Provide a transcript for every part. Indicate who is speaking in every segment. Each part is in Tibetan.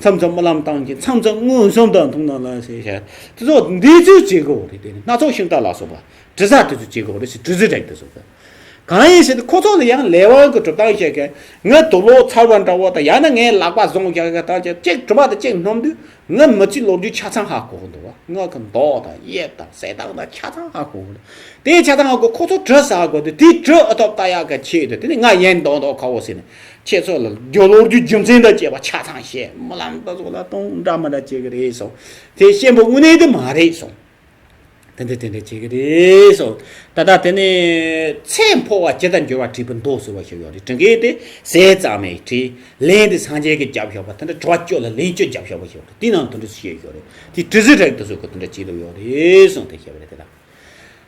Speaker 1: མཚམས་མཚམས་རྨི་ལམ་སྟངས་ཀྱིས་མཚམས་མཚམས་མངོན་སུམ་དང་མཐོང་སྣང་ལ་ཞེས་བྱ། དེ་ཚོ་འདི་ཚོའི་བྱེད་སྒོ་རེད་དེ་ནི་སྣ་ཚོགས་ཤིང་རྟ་ལ་སོགས་པ་དྲི་ཟ་དེ་ཚོའི་བྱེད་སྒོ་རེད་ཞེས་དྲི་ཟའི་སྒྲས་བསྟན། གང་ཡིན་ཞེ་ན་ཁོ་ཚོ་ལ་ཡང་ལས་དབང་གི་གྲུབ་སྟངས་ཤེས་མཁན་ང་དུག་ལོག་ཚ་བ་འདྲ་བོ་དང་ཡང་ན་ངའི་ལག་པ་བཟུང་བཞག་མཁན་དང་བཅས་གཅིག་གྲུབ་པ་དང་གཅིག་སྣོམ་དུས་ང་མི་ཚེའི་ལོ་རྒྱུས་ཆ་ཚང་ཧ་གོ་གི་འདུག་བ་ངག་གི་མདོག་དང་དབྱིབས་དང་གསལ་སྟངས་དང་ཆ་ཚང་ཧ་གོ་གི་འདུག་དེའི་ཆ་ཚང་ཧ་གོ་ཁོ་ཚོ་དྲི་ཟ་དགོས་དུས་དེའི་དྲི་ཨ་ཐོབ་ལྟ་ཡག་གི་ཆེད་དུ་དེ་ནི་ང་ཡིན་མདོག་མདོག་ཁ་བོ་ཟེར་ནས་ཁྱེད་ཚོ་ལ་རྒྱུ་ལོག་རྒྱུའི་རྒྱུ་མཚན་དང་བཅས་པ་ཆ་ཚང་བཤད་རྨི་ལམ་དུ་ཚོ་ལ་སྟོང་འདྲ་མི་འདྲ་བྱེད་གི་རེད་སོང་དེ་གཤེན་པོ་དངོས་གནས་དེ་མ་རེད་སོང་དེ་འདྲ་དེ་འདྲ་བྱེད་གི་རེད་སོང་ད་ལྟ་དེ་ནས་ཚེ་འཕོ་བ་ཇི་ལྟར་འགྱུར་བ་བྲིས་པ་མདོག་བསུ་བ་ཞིག་ཡོད་རེད་བྲི་མཁན་དེ་ཟས་གཙང་མས་བྲིས་ལན་དེ་སངས་རྒྱས་ཀྱི་རྒྱབ་ཞོག་པ་དེ་འདྲ་བྲི་བ་སྤྱོད་ལ་ལན་སྤྱོད་རྒྱབ་ཞོག་པ་ཞིག་ཡོད་རེད་དེ་ནང་དོན་འདྲི་བཤད་ཞིག་ཡོད་རེད་དེ་བྲི་ཟིག་རེད་དུ་ཟུག་གི་དེ་འདྲ་བྱེད་ལུགས་ཡོད་རེད་སོང་དེ་བཤད་པ་རེད་དེ་དང།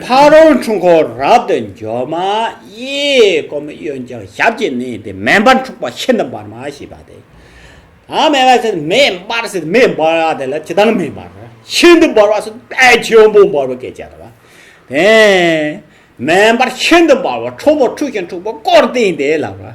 Speaker 1: ཕ་རོལ་འཁྲུལ་འཁོར་རབ་ཏུ་འབྱོར་མ་གཡས་བསྐུམ་གཡོན་བརྐྱང་ཞབས་ཀྱིས་མནན་ཏེ་མེ་འབར་འཁྲུགས་པ་ཤིན་ཏུ་འབར་མ་ཞེས་པ་སྟེ། ཨ་མེ་བ་སེར་མེ་འབར་སེར་མེ་འབར་བ་དེ་ལ་ཇི་ལྟར་མེ་འབར་བ་ཤིན་ཏུ་འབར་བ་སོགས་དཔལ་ཆེན་པོ་འབར་བ་སྐད་ཅེས་བྱ་བ་སྟེ། མེ་འབར་ཤིན་ཏུ་འབར་བ་ཁྲོ་བོ་འཁྲུགས་ཤིང་འཁྲུགས་པ་བསྐོར་བསྟན་ཏེ་ལགས་པ།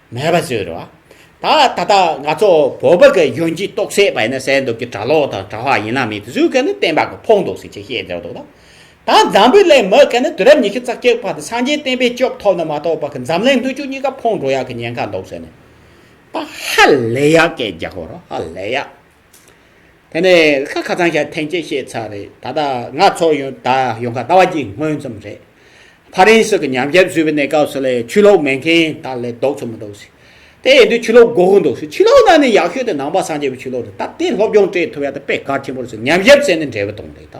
Speaker 1: མེད་པ་ཟེར་བ། ད་ད་ལྟ་ང་ཚོ་བོད་པ་གི་གཞོན་སྐྱེས་རྟོག་སད་པ་ཡིན་ན་གསལ་འདུག་གི་གྲྭ་ལོག་དང་གྲྭ་བྷ་ཡིན་ན་མི་བཟོད་མཁན་ནི་བསྟན་པ་གི་ཕོག་འདུག་ཟེར་ཆེད་བཤད་འདྲ་འདུག་ད། ད་འཛམ་བུའི་གླིང་མི་གི་ནི་དུས་རབས་ཉི་ཤུ་རྩ་བརྒྱད་པ་དང་སངས་རྒྱས་བསྟན་པའི་སྐྱོབ་ཐོབ་ནི་མ་གཏོགས་པ་གི་འཛམ་གླིང་ལྷོད་ཆུ་གཉིས་ཀ་ཕོག་འགྲོ་ཡག་གི་ཉེན་ཁ་འདུག་ཟེར་ནས་ད་ཧ་ལས་ཡག་སྐད་རྒྱག་གོ་རོགས་ཧ་ལས་ཡག། དེ་ནས་ཤ་ཁ་ཚང་ཞག་ཐེངས་གཅིག་བཤད་ཚར་རེད་ད་ལྟ་ང་ཚོ་ཡོང་ད་ཡོང་ཁ་ད་བར་གྱི་སྔོན་ཙམ་རེད། ཕ་རན་སི་གི་ཉམས་ཞིབ་བཟོས་པའི་གནས་སྐབས་སུ་ལས་ཆུ་ལོག་མེད་མཁན་དག་ལས་ལྡོག་ཚོད་མི་འདུག་ཟེར། དེ་ཡིན་དུས་ཆུ་ལོག་འགོག་གི་འདུག་ཟེར་ཆུ་ལོག་ནང་ནས་ཡག་ཤོས་དེ་ནང་པ་སངས་རྒྱས་པའི་ཆུ་ལོག་རེད་སྟབས་དེ་སློབ་སྦྱོང་སྤྲད་ཐུབ་ཡག་དེ་དཔེ་དཀར་ཆེན་པོར་བཟོས་ཉམས་ཞིབ་བྱས་ནས་འབྲས་བུ་བཏོང་རེད་ད།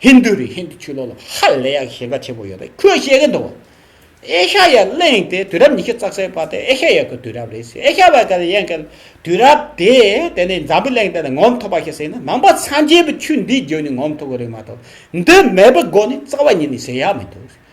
Speaker 1: ཧིན་དུའི་རིགས་ཧིན་དུ་ཆོས་ལུགས་ལ་ཧ་ལས་ཡག་ཤེས་ཀ་ཆེན་པོ་ཡོད་པས་ཁོས་བཤད་ཀྱི་འདུག་ཨེ་ཤ་ཡ་གླིང་དེ་དུས་རབས་ཉི་ཤུ་རྩ་གསལ་བར་དེ་ཨེ་ཤ་ཡ་གི་དུས་རབས་རེད་ཟེར་ཨེ་ཤ་བ་ག་ལ་ཡན་གི་དུས་རབས་དེ་དེ་ནས་འཛམ་བུའི་གླིང་སྟེང་ནས་ངོམ་ཐུབ་པ་ཞིག་ཟེར་ན་ནང་པ་སངས་རྒྱས་པའི་ཆོས་འདི་བརྒྱུད་ནས་ངོམ་ཐུབ་ཀྱི་རེད་མ་གཏོགས་འདི་མེད་པའི་སྒོ་ནས་རྩ་བ་ཉིད་ནས་ཟེར་ཡག་མི་འདུག།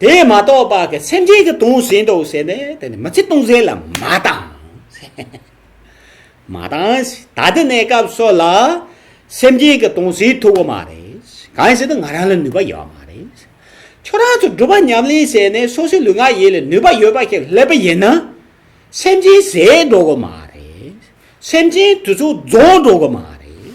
Speaker 1: དེ་མ་གཏོགས་པ་གི་སེམས་ཅན་གི་དུང་ཟིན་ཏོ་ཟེར་ནས་དེ་ནི་མི་ཚེ་སྟོང་ཟད་ལ་མ་བཏང། མ་བཏང། ད་དེ་གནས་སྐབས་སོགས་ལ་སེམས་ཅན་གི་དུང་ཟིན་ཐུབ་བོ་མ་རེད། གང་ཟེར་ན་ང་རང་ལ་ནུས་པ་ཡོད་མ་རེད། ཁྱོད་རང་ཚོ་སྒྲུབ་པ་ཉམས་ལེན་བྱས་ནས་སོ་སོའི་ལུས་ངག་ཡིད་ལ་ནུས་པ་ཡོད་པ་ཞིག་སླེབས་པ་ཡིན་ན། སེམས་ཅན་ཟད་འགྲོ་གི་མ་རེད། སེམས་ཅན་དུས་ཚོད་རྫོགས་འགྲོ་གི་མ་རེད།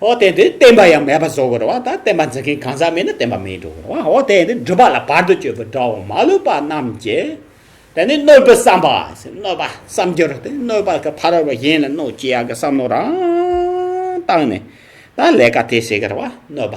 Speaker 1: འོ་དེ་དེ་བསྟན་པ་ཡང་མེད་པ་བཟོ་དགོས་རོ། ད་བསྟན་པ་འཛིན་མཁན་གང་ཟག་མེད་ན་བསྟན་པ་མེད་འགྲོ་དགོས་རོ། འོ་དེ་དེ་སྒྲུབ་པ་ལ་བར་དུ་གཅོད་པའི་དགྲ་བོ་མ་ལུས་པ་རྣམས་ཀྱིས། དེ་ནི་གནོད་པའི་བསམ་པ། གནོད་པ་བསམ་རྒྱུར་ཏེ་གནོད་པ་གི་ཕ་རོལ་པོ་གཞན་ལ་གནོད་ཅི་ཡག་གི་བསམ་བློ་རང་བཏང་ནས། ད་ལས་ཀ་དེ་བྱེད་དགོས་རོ། གནོད་པ།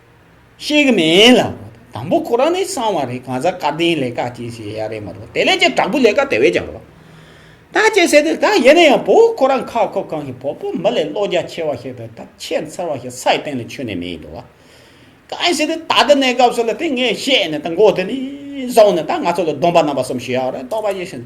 Speaker 1: ཤེས་ཀྱི་མེད་ལ། དང་པོ་ཁོ་རང་ནི་གསང་བ་རེད་གང་ཟག་སྐལ་ལྡན་ལས་ཀ་སྐྱེས་ཞེས་ཡ་རེད་མ་རུང་དེ་ལས་ཀྱང་དྲག་པོའི་ལས་ཀ་དེ་བས་ཀྱང་རུང། ད་ཅེ་ཟེར་དུས་ད་ཡིན་ན་ཡང་བོད་ཁོ་རང་ཁ་ཁོ་གང་ཞིག་བོད་པོ་མི་ལས་བློ་རྒྱ་ཆེ་བ་ཞིག་དང་དག་ཆས་མཚར་བ་ཞིག་སའི་སྟེང་ལ་ཆུད་ནས་མེད་ཡིན་འདུག་བ། གང་ཞིག་ཏུ་ད་ལྟ་གནས་སྐབས་སུ་ལ་དེ་ངས་བཤད་ནས་ད་མགོ་དེ་ནས་བཟུང་ནས་ད་ང་ཚོ་ལ་སྡོམ་པ་རྣམ་པ་གསུམ་ཞུ་ཡག་རེད་རྟོགས་པ་ཡེ་ཤེས།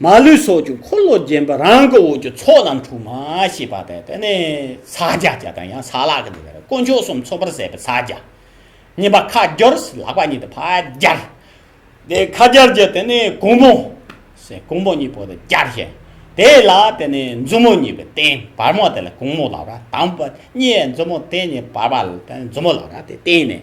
Speaker 1: མ་ལུས་སོགས་ཀྱི་འཁོར་ལོ་བརྒྱན་པ་རང་གི་འོག་གི་ཚོགས་རྣམས་འཁྲུགས་མ་ཞེས་པ་དང་དེ་ནས་ས་བརྒྱ་བརྒྱ་དང་ཡང་ས་ལ་ཀ་ནི་དཀོན་མཆོག་གསུམ་ཚོགས་པར་ཟད་པའི་ས་བརྒྱ། གཉིས་པ་ཁ་སྦྱོར་ལག་པ་གཉིས་ཏེ་ཕ་བརྒྱ། དེ་ཁ་སྦྱར་བརྒྱ་དེ་ནས་གུང་མོ། གུང་མོ་གཉིས་པོ་དེ་བརྒྱ་བྱས། དེ་ལ་དེ་ནས་མཛུབ་མོ་གཉིས་པའི་སྟེང་བར་མ་དེ་ལ་གུང་མོ་ལག་པ་དང་པོ་གཉིས་མཛུབ་མོ་དེ་གཉིས་བར་མ་ལ་མཛུབ་མོ་ལག་པ་དེ་སྟེང་ནས་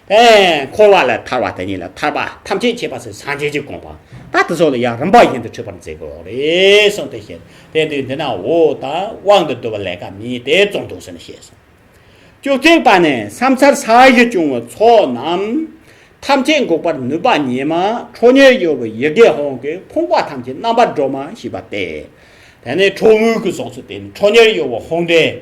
Speaker 1: འཁོར་བ་ལས་ཐར་བ་དེ་ཉིད་ལ་ཐར་པ་ཐམས་ཅད་ཁྱད་པར་ཚུལ་སངས་རྒྱས་ཀྱི་དགོངས་པ་ད་དེ་སོགས་ལ་ཡང་རིམ་པ་བཞིན་དུ་འཁྲུལ་པར་མཛད་དགོས་རེ་ཟུང་དུ་བཤད་དེ་དུས་འདི་ན་འོ་ད་དབང་དུ་བསྡུ་བ་ལས་ཀ་མེད་དེ་བཙོང་དུ་ཟིན་ཞེས་གསུངས། བཅུ་གཅིག་པ་ནི་བསམ་འཆར་ས་གཞི་བྱུང་བའི་ཚོགས་རྣམས་ཐམས་ཅད་འགུགས་པར་ནུས་པ་ཉི་མ་ཁྲོ་གཉེར་གཡོ་བའི་ཡི་གེ་ཧོང་གི་ཕུང་པོ་ཐམས་ཅད་རྣམ་པར་སྒྲོགས་མ་ཞེས་པ་སྟེ། དེ་ནི་ཁྲོ་བོའི་སྐུ་སོགས་ཚུལ་དེ་ནི་ཁྲོ་གཉེར་གཡོ་བ་ཧོང་འདྲེ།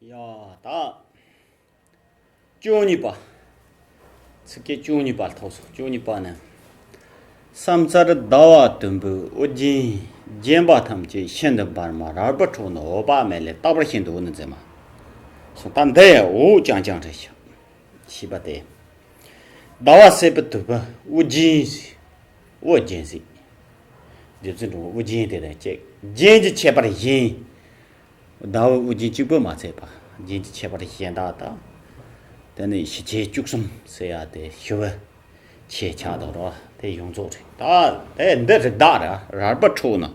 Speaker 1: ཡང་དག། བཅུ་གཉིས་པ། ཚིགས་བཅད་བཅུ་གཉིས་པ་ཐོགས་སོ། བཅུ་གཉིས་པ་ནི། སམ་སར་ཟླ་བ་དུམ་བུའི་དབུ་རྒྱན་བརྒྱན་པ་ཐམས་ཅད་ཤིན་ཏུ་འབར་མ་རལ་པོ་ཁྲོ་ནི་འོད་དཔག་མེད་ལས་བཏགས་པར་ཤིན་ཏུ་འོད་ནི་འཛིན་མ། གསུང་དང་འདི་ཡང་འོད་ཀྱང་སྦྱངས་ཤིག། ཞེས་པ་སྟེ། ཟླ་བ་སེར་པོ་དུམ་བུ་དབུ་རྒྱན། ཨོ་རྒྱན་གཟིགས། རྗེ་བཙུན་དྲུང་དབུ་རྒྱན་དེ་དང་ཅེག་རྒྱན་གྱི་ཁྱད་པར་གཞན། ཟླ་འོད་དབུ་རྒྱན་གཅིག་པོས་མ་ཚད་པ་རྒྱན་གྱི་ཁྱད་པར་གཞན་དག་དང། དེ་ནི་ཞི་བྱེད་བཅུ་གསུམ་སེ་ཡ་དེ་ཞི་བའི་ཆེ་ཆ་དང་རོ་དེ་ཡོངས་རྫོགས་རེད། ད་ལྟའི་འདི་རིགས་དག་ར་རལ་པ་འཁྲུགས་ན།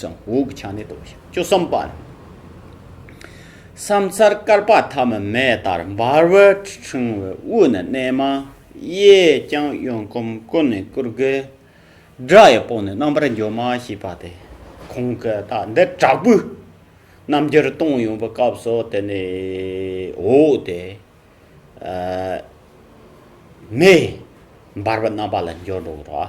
Speaker 1: སང་འོག་གི་ཆ་ནས་རྟོགས་ཤིང་བཅུ་གསུམ་པ། ས་མཚར་དཀར་པགས་ཐ་མི་མེ་ལྟར་འབར་བའི་ཕྲེང་བའི་དབུས་ནས་གནས་མ། གཡས་བརྐྱང་གཡོན་བསྐུམ་ཀུན་ནས་བསྐུར་དགའི་སྒྲ་ཡི་པོ་ནི་རྣམ་པར་འཇོམས་མ་ཞེས་པ་སྟེ། གོང་གི་རྟགས་འདི་དྲག་པོའི་རྣམ་རྒྱལ་སྟོང་ཡོངས་པའི་སྐབས་སུ་དེ་ནས་འོག་སྟེ། མེ། འབར་བའི་རྣམ་པ་ལ་འཇོག་འགྲོ་བར།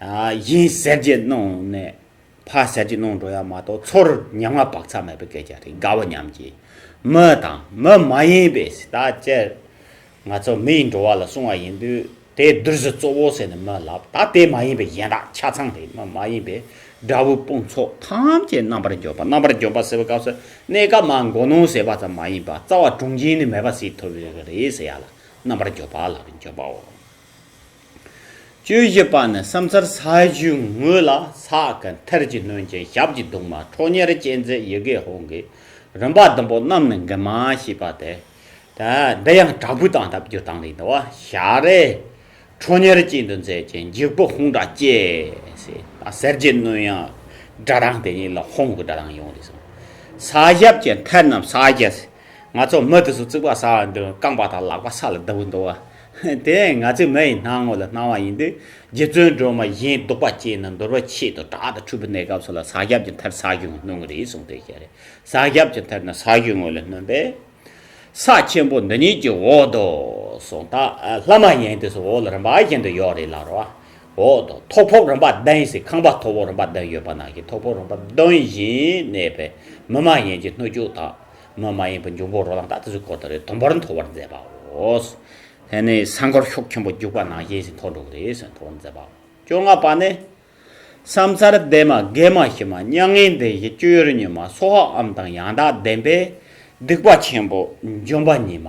Speaker 1: བཞིན་གསེར་གྱི་སྣང་ནས་ཕ་གསེར་གྱི་སྣང་འགྲོ་ཡ་མ་གཏོགས་ཚོར་ཉམས་ང་བག་ཚ་མེད་པའི་སྐད་ཆ་རེད་དགའ་བོ་ཉམས་ཀྱིས་མི་དང་མི་མ་ཡིན་པའི་ཟི་ལྟ་ཅེར། ང་ཚོ་མི་ཡི་འགྲོ་བ་ལ་སྲུང་བ་ཡིན་དུས་དེ་བདུད་རྩི་གཙོ་བོ་ཟེར་ནས་མི་ལབ་ད་དེ་མ་ཡིན་པའི་གཞན་དག་ཆ་ཚང་རེད་མི་མ་ཡིན་པའི་དགྲ་བོའི་དཔུང་ཚོགས་ཐམས་ཅད་རྣམ་པར་འཇོམས་པ་རྣམ་པར་འཇོམས་པ་ཟེར་བའི་སྐབས་སུ་གནས་སྐབས་མ་མགོ་ནོན་ཟེར་བ་ཙམ་མ་ཡིན་པ་རྩ་བ་དྲུངས་འབྱིན་ནི་མེད་པ་སྲིད་ཐུབ་རེད་ཟེར་ཡ་ལ་རྣམ་པར་འཇོམས་པ་ལ་འཇོམས་པའོ། བཅུ་བཞི་པ་ནི་བསམ་སར་ས་གཞིའི་ངོས་ལ་ས་གི་མཐིལ་གྱི་སྣོད་ཅན་ཞབས་ཀྱི་གདུང་མ་ཁྲོ་གཉེར་སྤྱན་གཟིགས་ཡི་གེ་ཧོང་གི་རིམ་པ་བདུན་པོ་རྣམས་ནི་འགལ་མ་ཞེས་པ་སྟེ། འདི་ཡང་དྲག་པོའི་དང་སྟབས་བསྒྱུར་དང་ལས་འདུ་བ་ཞལ་རས་ཁྲོ་གཉེར་སྤྱན་དུ་མཛད་ཅིང་འཇིགས་པའི་ཧོང་སྒྲ་སྐྱེས། གསེར་གྱི་སྣོད་ཡང་སྒྲ་གདངས་དེ་ཉིད་ལ་ཧོང་གི་སྒྲ་གདངས་ཡོང་སྟེ། ས་ཞབས་ཀྱི་མཐིལ་རྣམས་ས་གཞི། ང་ཚོ་མི་དེ་ཚོ་རྩིག་པ་ཟ་བ་འདི་རྐང་པ་དང་ལག་པ་ས་ལ་བརྡབས་འདུག་བ། དེ་ཡང་ང་ཚོའི་མི་ཡི་སྣང་ངོ་ལ་སྣང་བ་ཡིན་དུས་རྗེ་བཙུན་སྒྲོལ་མ་གཞན་སྡུག་པ་སྐྱེས་ན་འདོར་བའི་ཆེད་དུ་དྲག་ཏུ་འཁྲུལ་པའི་གནས་སྐབས་སུ་ལ་ཟག་རྒྱབ་ཀྱི་མཐར་ཟག་གི་ངོ་སྣོན་གྱི་རེད་གསུངས་དོན་ཅི་རེད་ཟག་རྒྱབ་ཀྱི་མཐར་ན་ཟག་གི་ངོ་ལ་སྣོན་པས། ས་ཆེན་པོ་འདི་ཉིད་ཀྱི་འོག་ཏུ་སོང་ད་ལྷ་མ་ཡིན་དེ་ཚོ་འོག་ལ་རིམ་པ་གཞན་དུ་ཡོད་རེད་ལར་བ། འོག་ཏུ་ཐོག་ཕོབ་རིམ་པ་བདུན་ཡིན་སྲིད་ཁང་པ་ཐོག་ཕོབ་རིམ་པ་བདུན་ཡོད་པ་ནང་གི་ཐོག་ཕོབ་རིམ་པ་བདུན་བཞིན་གནས་པས་མི་མ་ཡིན་གྱི་སྣོད་བཅུག་དང། སྣོད་མ་ཡིན་པའི་འབྱུང་པོ་རོ་ལངས་དག་དེ་ཚོའི་སྐོར་དང་རེ་དོན་པར་འཐོར་བར་མཛད་པའོ། དེ་ནས་སྲང་སྐོར་ཤོག་ཆེན་པོ་རྒྱུག་པ་ནང་བཞིན་ཞིག་འཐོར་འགྲོ་གི་རེད་ཟེར་འཐོར་བར་མཛད་པའོ། བཅོ་ལྔ་པ་ནི། བསམ་འཚར་ལྡན་མ་རྒན་མ་ཞི་མ་མྱ་ངན་འདས་བཞི་སྤྱོད་ཡུལ་གཉིས་མ་སྲོག་ཨམ་དང་ཡང་དག་ལྡན་པས་སྡིག་པ་ཆེན་པོ་འཇོམས་པ་གཉིས་མ།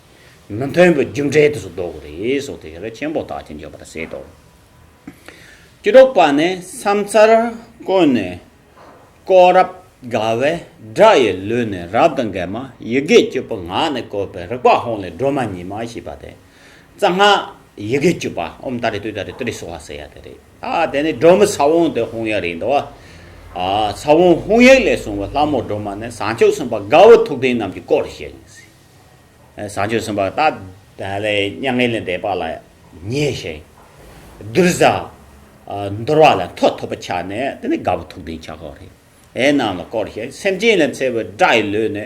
Speaker 1: མི་མཐུན་པའི་རྒྱུ་འབྲས་དུ་སུ་བཟློག་རེ་སོགས་ཐེག་ཆེན་པོ་དག་ཅིང་བརྗོད་པར་ཟད་དོ། སྐྱེ་འགྲོ་པ་ནི་སམ་ཚར་ཀུན་ནས་བསྐོ། རབ་དགའ་བའི་སྒྲ་ཡི་ལུས་ནི་རབ་དང་འགལ་མ་ཡི་གེ་བཅུ་པོ་ངག་ནི་བཀོད་པའི་རིག་པ་ཧཱུྃ་ལས་སྒྲོལ་མ་ཉི་མ་ཞེས་པ་དེ། རྩ་སྔགས་ཡི་གེ་བཅུ་པ་ཨོམ་ཏཱ་རེ་ཏུ་ཏཱ་རེ་ཏུ་རེ་སོགས་ལ་ཟེར་ཡ་དེ་རེད། ད་དེ་ནི་སྒྲོལ་མའི་ས་བོན་དེ་ཧཱུྃ་ཡིག་རེད་འདོད། ས་བོན་ཧཱུྃ་ཡིག་ལས་བྱུང་བའི་ལྷ་མོ་སྒྲོལ་མ་ནི་ཟངས་ལྕགས་གསུམ་པ་དགའ་བོ་ཐུགས་ལྡན་རྣམས་ཀྱི་སྐོར་བཤད་ཡིན་སྲིད། བཟང་སྤྱོད་གསུམ་པ་དག་བདག་ལས་མྱ་ངན་ལས་འདས་པ་ལ་མཉེས་ཤིང། གདུལ་བྱ་འདོར་བ་ལ་མཐོ་ཐོབ་པར་ཆགས་ནས་དེ་ནི་དགའ་བོ་ཐུགས་ལྡན་ཕྱག་རོགས་རེད་ཨེ་རྣམས་ལ་བསྐོར་ཞིང་སེམས་ཅན་ལ་འཚེ་བའི་དགྲ་ཡི་ལུས་ནི།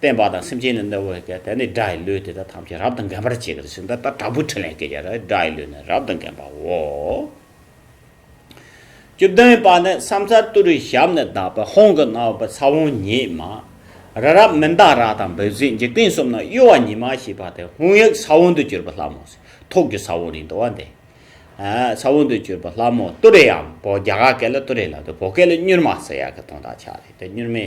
Speaker 1: བསྟན་པ་དང་སེམས་ཅན་ལ་གནོད་བའི་དགྲ་ནི་དགྲ་ཡི་ལུས་དེ་དག་ཐམས་ཅད་རབ་ཏུ་འགེམས་པར་བྱེད་ཀྱི་ཟིན་ད་ལྟ་དྲག་པོའི་ཕྲིན་ལས་སྐྱེས་བྱ་ར་དགྲ་ཡི་ལུས་ནི་རབ་ཏུ་འགེམས་པའོ། བཅུ་བདུན་པ་ནི་བསམ་སར་བཏུ་རུའི་ཞབས་ནས་བདག་པོའི་ཧོང་གི་གནའ་བོའི་ཚ་བོང་ཉིད་མ། རི་རབ་མི་འདག་ར་དང་འབོད་ཟིག་འཇིག་རྟེན་གསུམ་ན་གཡོ་བ་ཉི་མ་ཞེས་པ་དེ་ཧོང་ཡིག་ས་བོན་དུ་གྱུར་པའི་ལྷ་མོ། ཐོག་གི་ས་བོན་རིང་དུ་བ་འདི། ས་བོན་དུ་གྱུར་པའི་ལྷ་མོ་བཏུ་རེའམ་བོ་རྒྱ་གར་སྐད་ལ་བཏུ་རེ་ལབ་སྟེ་བོད་སྐད་ལ་སྙུར་མ་ཟེར་ཡག་གི་དོན་དག་ཆགས་རེད་དེ་སྙུར་མའི།